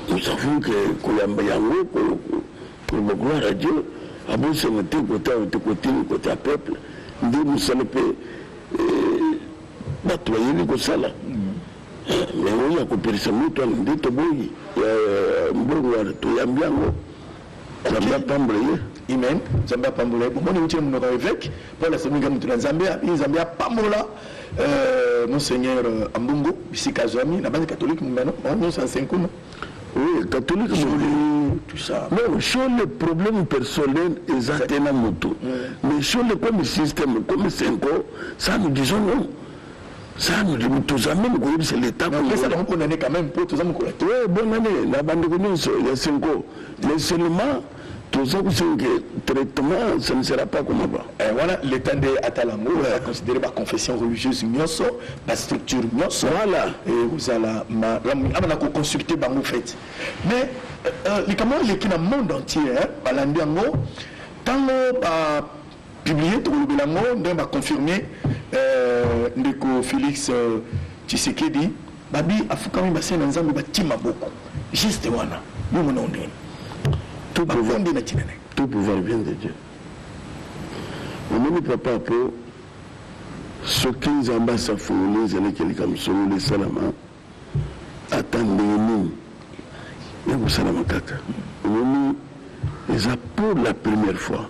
Nous savons que koyamba yango koloba gloire à Dieu abosana te kota oyo te kotini kota peuple nde mosala mpe eh, bato bayebi kosala mais oyo ya koperisa moto wana nde toboyi eh, mbongo wana toyambi yango Nzambe apambola ye. Amen. Nzambe apambola ye. Bomoni mutile munoko ya evêque Paul asemika mutu na Nzambe ya Nzambe apambola euh, monseigneur euh, Ambungu bisika azwami na bandi catholique mumano nyonso ansenkuma Oui, catholique Shole, tout ça. Non, Shole, problème personnel, ils atteignent un moto. Mais Shole, comme système, comme Senko, ça nous disons non. ça nous dit toza meme koyebisa leta kopesa bango bonne année quand même mpo toza mokolo ya oui bonne année na bandeko nyonso ya senko mais seulement toza kosenga traitement ça ne sera pas comme avant eh, wana leta nde atala yango oza considéré baconfession religieuse nyonso bastructure nyonso voilà ekozala malamu ama na koconsulte bango fete mais euh, euh, likambo eleki na monde entier balandi yango ntango ba publie tokolobela yango ndenge ba confirme ndeko Felix Tshisekedi babi afukami ba senga nzambe batie maboko geste wana yo mona yango ndenge nini bakonde na tina naye tout pouvoir vient de Dieu omoni papa po soki nzambe asafungoli nzela eke likambo songolo esalama ata ndenge nini ekosalama kaka omoni eza pour la première fois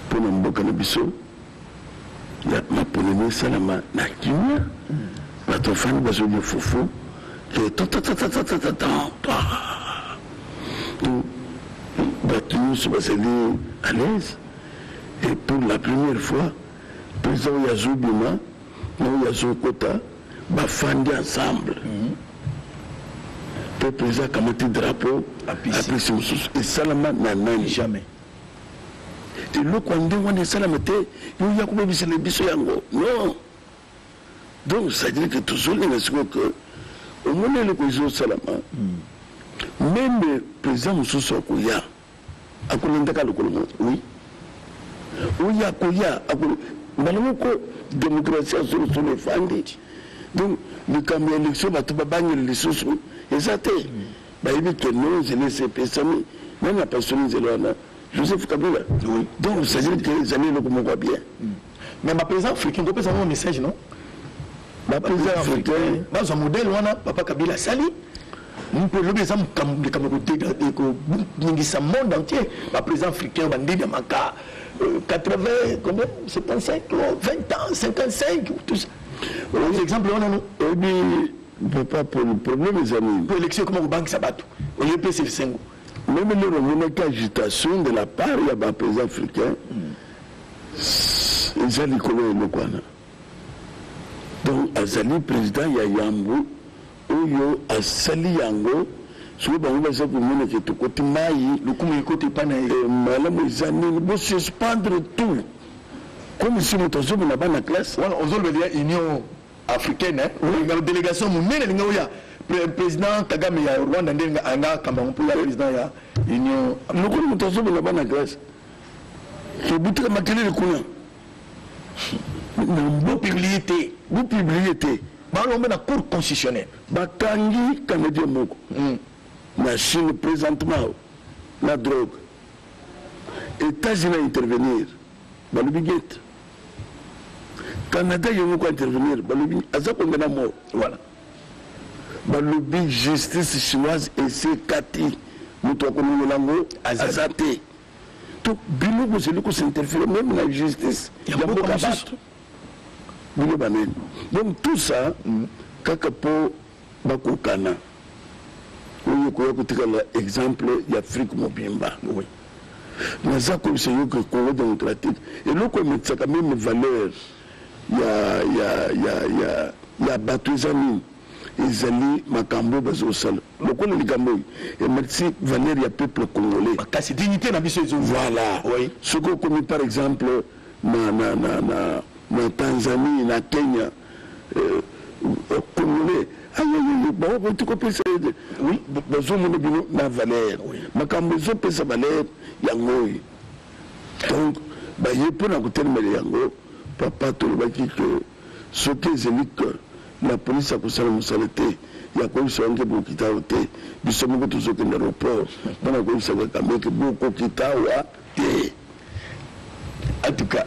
mpo na mboka na biso ya maponami esalama na kimia bato bafandi bazolia fufu te bato nyonso bazali à l'aise et pour la première fois président oyo azobima na oyo azokota bafandi ensemble mpe president akamati drapeau apesi mosusu esalama na nani jamais eloko ya ndenge wana esalama te yo ya kobebisela biso yango non donc c'est-à-dire que tozolinga sikoyo ke omoni eloko ezosalama meme president mosusu akoya Akolanda kaka lokolo moko oui oyo akoya ako mbala moko demokrasi ya solosolo efandi donc likambo ya election bato babangeli lisusu eza te bayebi ke no nzela esi epesami nani apasoli nzela wana joseph kabila donc cestadire ke ezali eloko moko ya bien mais ba président africain ko pesa ngo message non ba président africain ba zo modèle wana papa kabila sali mpe lobi eza makambo likambo koningisa monde entier ba président africain ba ndida maka 80 euh, combien 75 20 ans 55 tout ça aux exemples wana no oyebi papa polo problème eza nini po élection ekoma kobangisa bato oye pesa esengo meme lelo omonaki agitation de la part ya ba président africain mm. eza likolo ya eloko wana donc azali president ya yambo oyo asali yango soki bango baza komona ke tokoti mai lokumu ekoti epai na ye eh, malamu eza nini bosuspendre tout comme si moto azobona bana classe wana ozolobela ya union africaine eh? délégation monene elinga oya président kagame ya rwanda nde anga kamba yango mpo ya président ya union lokola moto azobona bana classe Tobutela makelele kuna. Bo publier te. Bo publier te. Balombe na cour constitutionnelle. Bakangi canadien moko. Mm. Na Chine présentement na drogue. États-Unis intervenir. Balobi guette. Canada yango ko intervenir. Balobi aza konde na mort. Voilà. Balobi justice chinoise et c'est Cathy. Moto akolongola yango aza te. to bino bozali kosinterfere meme na justice ya mboka bato bino banani donc tout ça mm. kaka mpo bakokana oyo ekoya kotikala exemple ya afrique mobimba oui. naza koyebisa yo ke congo démocratique eloko emetisaka meme valeur ya, ya, ya, ya, ya bato eza nini ezali makambo bazosala Lokola likambo oyo ematisi valeur ya peuple congolais makasi, dignite na biso ezongi. Voilà. Oui. Soki okomi par exemple na, na, na, na, na Tanzanie, na Kenya, euh, euh congolais ayoyoyo bango bauti kopesa ye oui, bazomona bino na valeur oui. makambo ezopesa valeur yango oyo donc baye mpo na kotelemela yango papa tolobaki ke Soki ezeli que la police akosala musala te ya koyebisa yo nge bokita awa te, biso moko tozo kende aeroport pona koyebisa Kagame ke bokokita awa te. En tout cas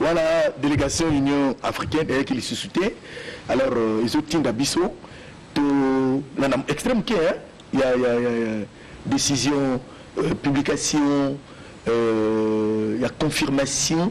wana delegation union africaine eyaki lisusu te alors ezo tinda biso to landa extreme moke hein ya ya ya ya decision euh, publication euh, ya confirmation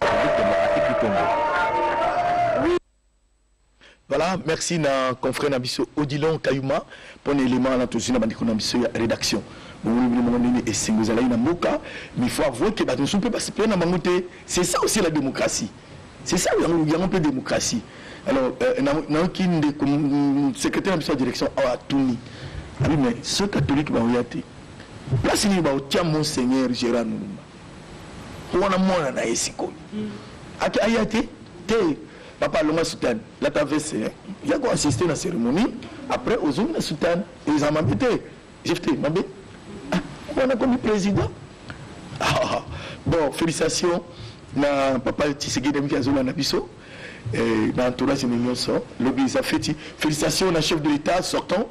Republique Democratique du Congo. Voilà, merci na confrère na biso Odilon Kayuma pour l'élément na tozina bandeko na biso ya rédaction. Bongo bino moko nini esengo ezalaki na mboka, mais faut avouer que bato mosusu mpe basepela na bango te. C'est ça aussi la démocratie. C'est ça yango yango mpe démocratie. Alors euh, na nayoki ndeko mm, secrétaire na biso ya direction awa atuni. Abi mais ce catholique baoya te. Place nini baotia Monseigneur Gérard Mulumba? po wana mwana na ye sikoyo mm. ake aya te te papa alonga sutane lata vese eh. ya ko assiste na cérémonie après ozongi na sutane eza mabe te jefte mabe ah, wana komi président ah, bon félicitation na papa tshisekedi amiki azolanda biso eh, na entourage na nyonso lobi eza feti félicitation na chef de l'état sortant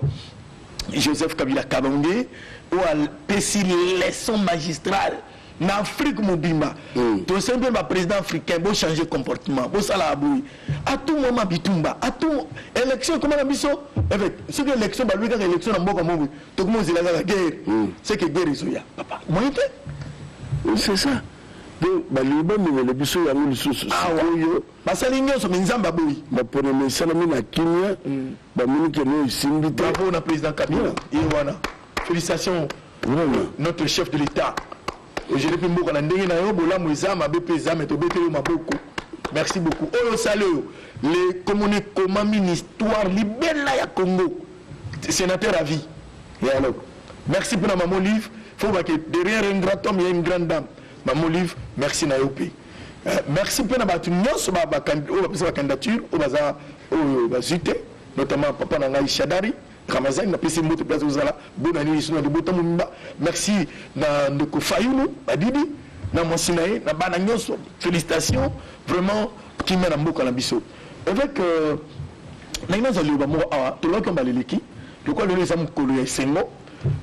Joseph Kabila Kalonge oyo apesi leçon magistrale na afrique mobimba mm. tosali mpe baprésident africain bochange comportement bosalaka boye atumwama bitumba atum élection ekoma na biso soki élection balobi kaka élection na mboka moko tokoma ozela kaka guerre mm. seke guerre ezoya papa moyen te c'est ça donc balingi bamemela biso yango lisusu sikoyo basali nyonso me nzambe aboyi baponami esalami na kimia mm. Ba moni que no isimbi te. Bravo na president Kabila. Ye wana. Félicitations. Vraiment. Notre chef de l'État. Ojele pe mboka na ndenge na yo bolamu eza mabe pe eza mais tobeteli yo maboko. Merci beaucoup. Oyo osali oyo le komona ekomami na histoire libela ya Congo. Sénateur à vie. Et alors Merci pour la maman Olive. Faut que derrière un grand homme, il y a une grande dame. Maman Olive merci na yo pe. Eh, merci pe na batu nyonso ba ba oyo ba pesa ba candidature oyo baza oyo bazui te notamment papa na ngai Shadari Ramazani na pesi mbote place ozala bona nini sino libota mumba. Merci na ndeko Fayulu Badidi na mwasi na ye na bana nyonso. Félicitations vraiment kimia na mboka na biso. Avec euh, na ina zali ba moko awa tolobaki mbala eleki lokola lelo eza mokolo ya esengo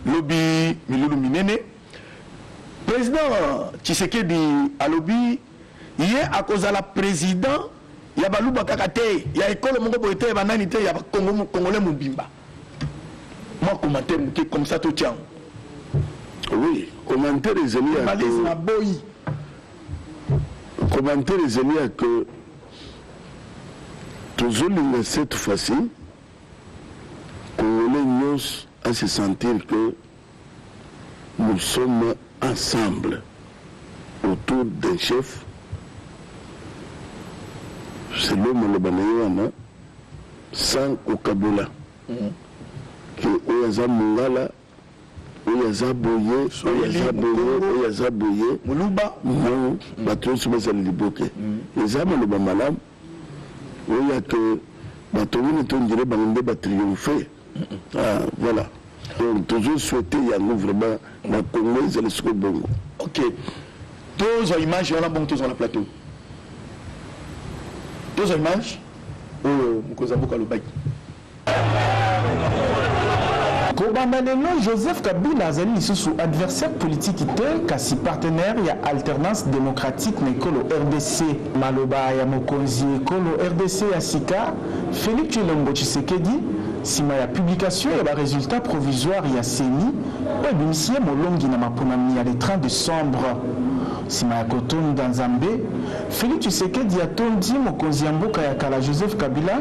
lobi milulu minene President Tshisekedi alobi ye akozala president ya baluba kaka te, ya ekolo moko boye te, ya banani te, ya bakongo, congolais mobimba. Mwa commentaire moke comme ça totia yango. Oui, commentaire ezali ya Tribalisme ko- aboyi. commentaire ezali ya que tozolinga cette fois-ci congolais nyonso a se sentir que Nous sommes ensemble autour d'un chef selon maloba na ye wana sans kokabola ke oyo aza mongala oyo aza boye oyo aza boye oyo aza boye moluba non bato nyonso bazali liboke eza maloba malamu Oui ya que batongi neti on dirait bango nde ba triomphe ah voilà donc tozo souhaiter yango vraiment na Congo ezali siko bongo ok tozwa image wana bongo tozwa na plateau tozwa image oyo mokonzi ya mboka alobaki Kobanda lelo, Joseph Kabila azali lisusu adversaire politiki te, kasi partenaire ya Alternance democratique na ekolo rdc. Maloba ya mokonzi ekolo rdc ya sika, Felix Tshilombo Tshisekedi, nsima ya publication ya ba resultats provisoires ya ceni oyo ebimisi ye molongi na maponami ya le 30 decembre. Nsima ya kotonda Nzambe, Felix Tshisekedi atondi mokonzi ya mboka ya kala Joseph Kabila,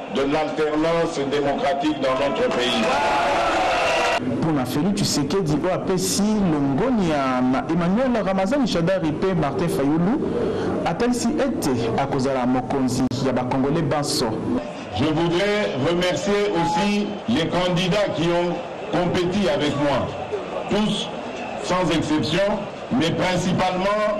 de l'alternance democratique dans notre pays. Mpo na Felix Tshisekedi oyo apesi longonya na Emmanuel Ramazani Shadary mpe Martin Fayulu, atalisi ete akozala mokonzi ya ba Congolais banso. Je voudrais remercier aussi les candidats qui ont competi avec moi, tous sans exception, mais principalement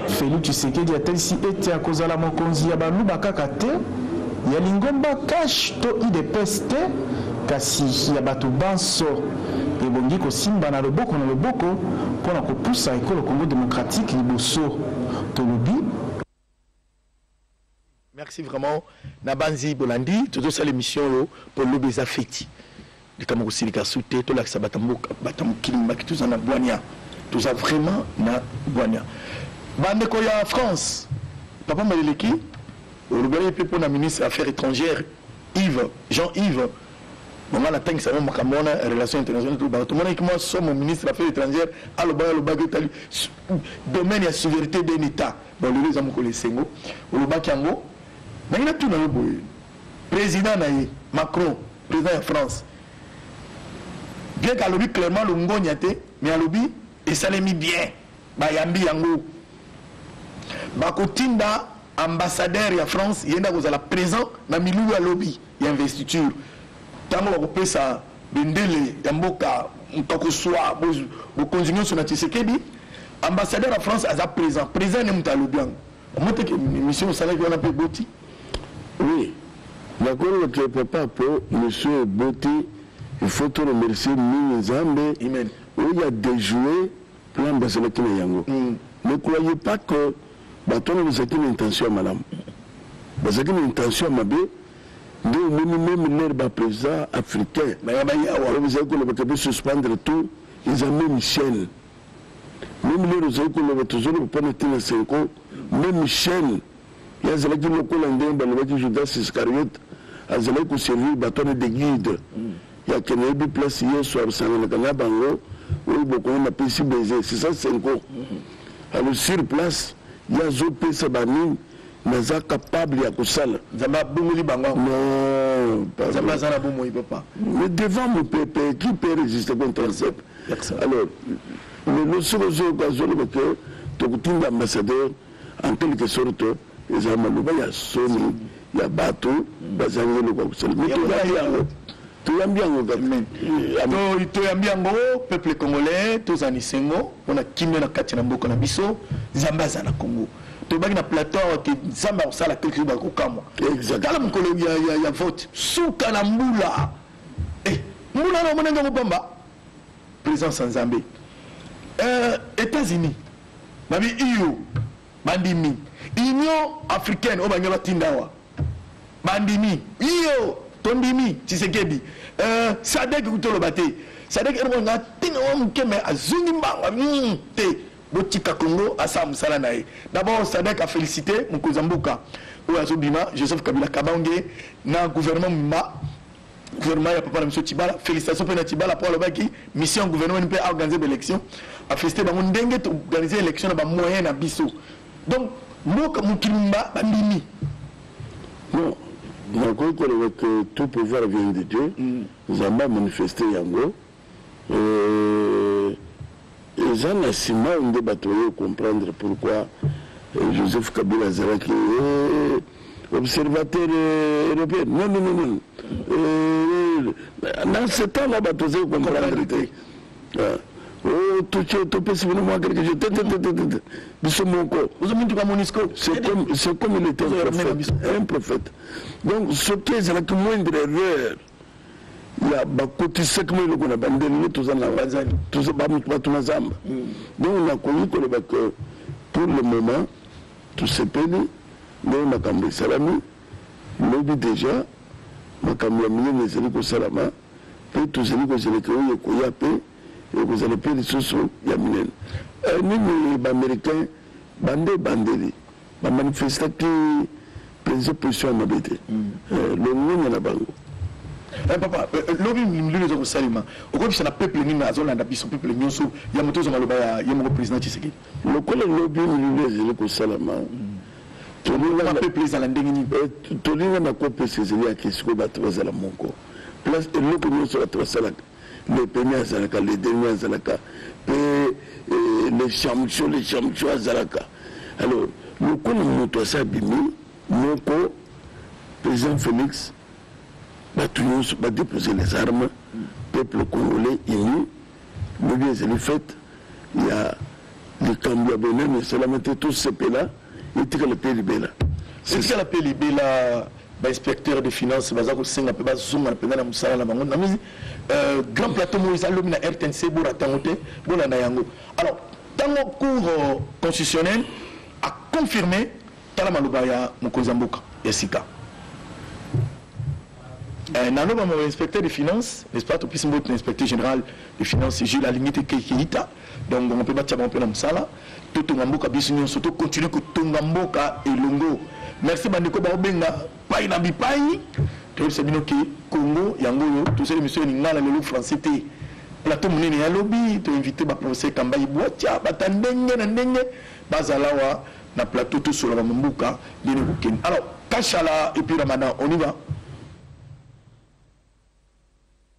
Felix Tshisekedi atalisi ete akozala mokonzi ya baluba kaka te, ya lingomba CACH to udps te, kasi ya bato banso. Ebongi kosimbana loboko na loboko mpo na kopusa ekolo Congo democratique liboso, tolobi. Merci vraiment na banzi bolandi tozo sala emission oyo po lobi eza feti likambo kosilika su te tolakisa bata mboka bata mokili mobaki toza na bwania toza vraiment na bwania bandeko ya France papa maleleki olobela ye mpe mpo na ministre ya affaires étrangères Yves Jean Yves bonga natangisa yango makambo wana relation internationale tolobaka tomonaki mwa somo ministre ya affaires étrangères alobaki alobaki etali domaine ya souveraineté d'un état Bon lelo eza mokolo ya esengo olobaki yango nangi natuna yo boye president na ye Macron president ya France bien ke alobi clairement longonya te mais alobi esalemi bien bayambi yango bakotinda ambassadeur ya France ye nde akozala présent na milulu ya lobi ya investiture ntango bakopesa Bendele ya mboka moto akosua bokonzi nyonso na Tshisekedi. Ambassadeur ya France aza present present ne moto alobi yango omoteke mission osalaki wana mpe eboti oui nakongo te papa mpo mission eboti il faut to remercier mingi nzambe oyo ya déjouer plan bazalaki na yango mm. ne croyez pas que bato wana bazalaki na intention ya malamu bazalaki na intention ya mabe Nde omoni meme leurs ba president africain oyo bazali koloba ke bo suspendre tout eza meme chaine meme leurs ozali koloba tozoloba mpo na tina senko meme chaine ye azalaki lokola ndenge balobaki judas iscariot azalaki koservir bato wana de guide yake nayebi place yesu asanganaka na bango oyo bokongo napesi baiser c'est ça senko alors sur place ye azopesa banini naza capable ya kosala nzambe abongoli bango nzambe aza na bomoi papa mais devant mon peuple qui peut résister contre un peuple alors lelo soki ozoyoka azoloba ke tokotinda ambassadeur en quelque sorte eza maloba ya soni ya bato bazangi eloko ya kosala mais tozali yango Toyambi yango kaka. Toyambi yango peuple congolais toza na esengo pona kimia na kati na mboka na biso Nzambe aza na Congo. Tobaki na plateau awa ke Nzambe akosala quelque chose bakokamwa. Tala mokolo ya vote suka na mbula. Eh, mbula na mona ngango pamba. Présence ya Nzambe. Euh, États-Unis. Babi iyo Bandimi. Union africaine oyo balingi batinda awa bandimi. Iyo, tondimi Tshisekedi. Euh, Sadek kutu oloba te. Sadek eloko na tina wa moke mais azongi mbanga mm, te. Botika Congo asala mosala na ye. D'abord Sadek a félicité mokonzi ya mboka oyo azobima Joseph Kabila Kabange na gouvernement mba gouvernement ya papa na biso tibala félicitation mpe na tibala mpo alobaki mission ya gouvernement mpe aorganize baélection afélicite bango ndenge toorganize élection na bamoyen na biso donc mboka mokili mba bandimi non nakoki koloba que tout pouvoir vient de dieu mm. nzambe amanifeste yango Eeh eza na simao nde batu baye comprendre pourquoi Joseph Kabila azalaki eeh observateur europeen nonnononon eeh na ce temps là batu bazali comprendre te ah. Oh, topesi bino mwa quelque chose tetetetete biso moko c'est comme il était un prophète un prophète donc soki ezalaki moindre erreur ya bakotisaki mwa eloko na bande lelo toza na bato na zamba mm. donc nakoki koloba que pour le moment tosepeli ndenge makambo esalami lobi déjà makambo ya minene ezali kosalama mpe tozali kozeleka oyo ekoya mpe ekozala mpe lisusu ya minene eh, nini baaméricain bande ebandeli Ba manifestaki penza position ya mabe te. Eh, longonya na bango. Eh papa, eh, eh, lobi milulu eza kosalema. Okobisa na peuple nini azolanda biso peuple nyonso ya moto ezo maloba ya ye moko president Tshisekedi. Lokola lobi milulu ezali kosalama. Tolingana peuple ezala ndenge nini? Eh, tolingana kopesa ezali ya kesiko bato bazala moko. Place eloko nyonso bato basalaka Le peme azalaka le demi azalaka pe eh, le chamcho le chamcho azalaka alors lokola moto asi abimi moko président félix bato nyonso badepose les armes peuple congolais uni lobi ezali fete ya Likambo ya bonene esalama te to sepela etikala pe libela. Etikala pe libela ba inspecteurs de finance baza kosenga pe bazonga mpenza na mosala na bango na moni euh, grand plateau moïse alobi na rtnc borata yango te bolanda yango alors ntango cour euh, constitutionnel aconfirme tala maloba ya mokonzi ya mboka ya sika euh, naloba mo inspecteur de finance n'est-ce pas topesi mbote na inspecteur général de finance jules alingi te keita donc bango pe batia bango pe na mosala totonga mboka biso nyonso to continue kotonga mboka elongo merci bandeko baobenga pai na bipai toyebisa bino ke congo yango oyo tosali misio ya lingala lelo français te plateau monene ya lobi toinvite baprofesseur kambai bwatia bata ndenge na ndenge bazala wa na plateau tosola bamambuka ndene kokende alors kashala epuis ramadan on y va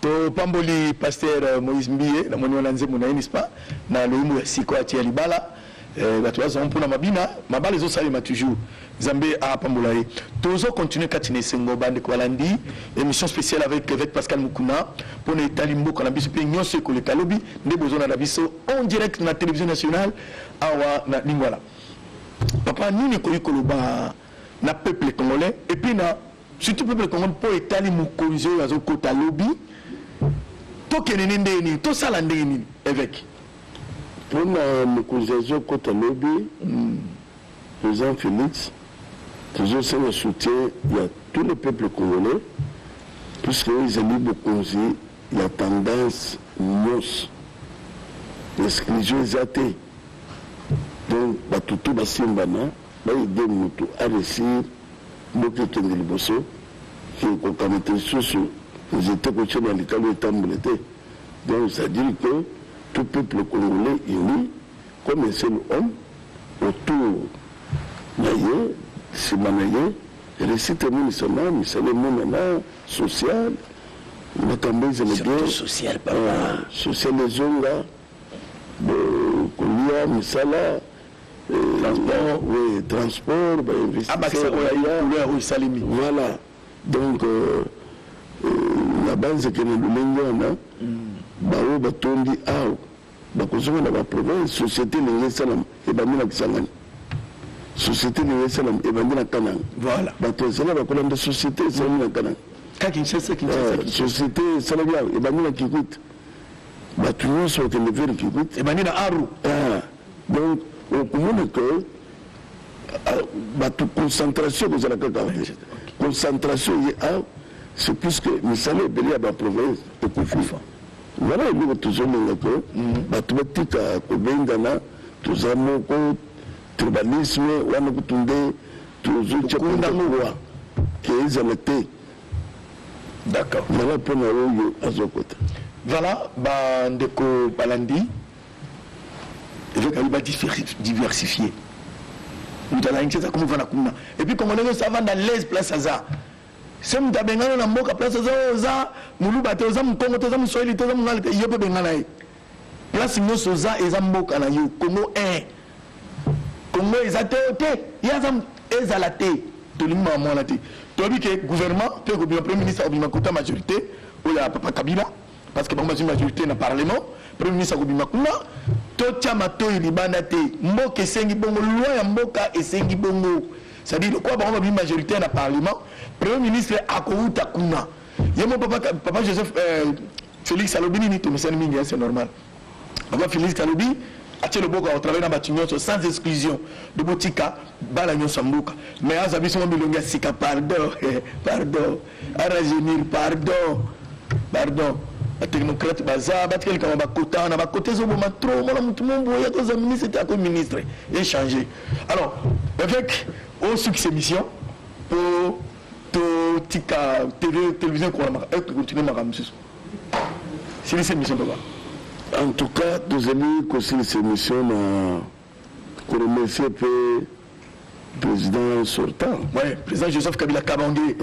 topamboli pasteur moïse mbiye namoni wana nzembo na ye nispa na loyembo ya siko atie ya libala Eh batu baza mpona mabina mabala ezo salema toujours Nzambe a pambola ye tozo continuer kati na esengo ba ndeko balandi emission spéciale avec l'évêque Pascal Mukuna pona etali mboka na biso pe nyonso ekoleka lobi nde bozo na biso en direct na télévision nationale awa na Lingwala papa nini ekoki koloba na peuple congolais et puis na Surtout peuple congolais po etali mokonzi oyo azo kota lobi tokende ne ndenge nini tosala ndenge nini eveke mpona mokonzi azo kota lobi mm. président félix tozosenga soutien ya tous les peuples congolais puisque oyo ezali bokonzi ya tendance nyonso exclusion eza te donc bato to basimbana Ba idee mutu a reussir mboka ekende liboso mais kokamata lisusu nzete kotia na likalo etambole te donc ça dire que tout peuple congolais uni comme un seul homme autour na ye sima na ye reussite emonisama misala emonana social makambo ezala bien social ezonga kolia misala Transport. Oui, transport, ba investisseurs. Abakisa ko ya likolo ya osalemi. Voilà. Donc euh, na banze ke na lolenge wana baoyo batondi awa bakozonga na baprovince société elingi esalama ebandi na kisangani société elingi esalama ebandi na kananga voilà. bato ezala bakola nde société esalami na kananga euh, société esalami ebandi na kikwit bato nyonso bakende vere kikwit ebandi na aru ah. Donc okomona que euh, bato concentration ekozala kaka te concentration ye a c'est plus que misala ebele ya baprovince ekokufa wana eloko tozomona ke mhm. bato batika kobengana toza moko tribalisme wana kutu nde tozotya kondakwa ke ezala te d'accord wana mpo na oyo azokota voilà bandeko balandi Evêque ayebi ba diversifier. Moto ya Kinshasa akomi vanda kuna. Et puis Congolais nyonso avanda l'aise place aza. Se moto abengana na mboka place oza oza muluba te oza mokongo te oza moswahili te oza mongala te yo mpe bengana ye place nyonso oza eza mboka na yo kongo 1 kongo eza te te ye aza ezala te tolingi mama mwana te toyebi ke gouvernement mpe ekobima premier ministre akobima kota majorité oyo ya papa kabila parce que bango bazwi majorité na parlement premier ministre akobima kuna totya matoi libanda te mboka esengi bongo loi ya mboka esengi bongo c'est-à-dire lokola bango babimi majoritaire na parlement premier ministre akouta kuna ye mo papa, papa joseph euh, félix alobi nini tomesani mingi c'est normal Papa Philiste alobi atie loboko au travail na batu nyonso sans exclusion de botika bala nyonso mbuka mais aza biso milongi ya sika pardon pardon aragenir pardon pardon batechnocrate baza batika likambo bakota na bakota ezoboma trop mwana motu mombo oyo akoza ministre te ako ministre echange alors avec osuki oh, émission mpo totika tv télévision ekontinue makambo mosusu silisa emission papa en tout cas tozali kosilisa emission na koremercie mpe président sortant. Ouais, président Joseph Kabila Kabange. Ouais.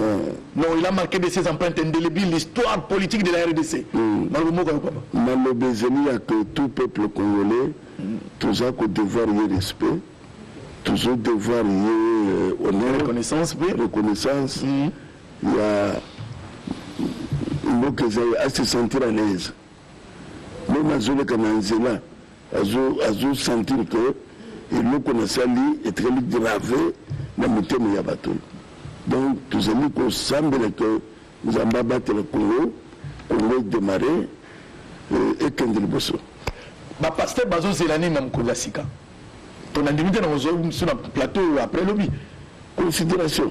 Non, il a marqué de ses empreintes indélébiles l'histoire politique de la RDC. Mm. Malobe ezali ya que tout peuple congolais mm. toza ko devoir ye respect tozo devoir ye euh, honneur reconnaissance mpe reconnaissance mm. ya mboka eza ye a se sentir à l'aise meme azoleka na nzela azo sentir que eloko nasali etikali grave na mitema ya bato donc tozali kosambela que nzambe abatela congo congo edemare euh, ekende liboso bapaster bazozela nini na mokonzi ya sika to nandimi te na kozwa biso na plateau après lobi considération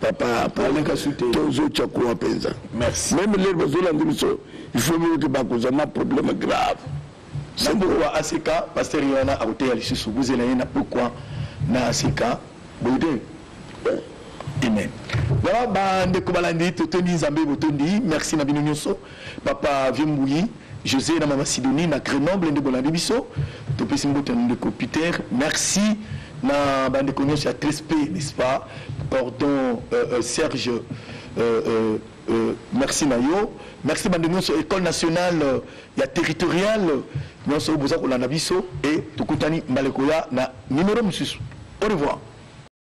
papa paleka sute tozo tya kuwa mpenza merci meme lelo bazolandi biso il faut boyoki bakozwa na problème grave na mboka wa aseka paster ye wana akoteya lisusu bozela ye na pokwa na aseka boye te amen voilà bandeko balandi totondi nzambe botondi merci na bino nyonso Papa vieux mbuyi Jose na mama Sidonie na Grenoble nde bolandi biso topesi mbote na ndeko Peter merci na bandeko nyonso ya trsp n'est-ce pas pardon euh, euh, Serge euh, euh, euh, merci na yo merci bandeko nyonso école nationale euh, ya territoriale nyonso boza kolanda biso e tokutani mbala ekoya na numero mosusu au revoir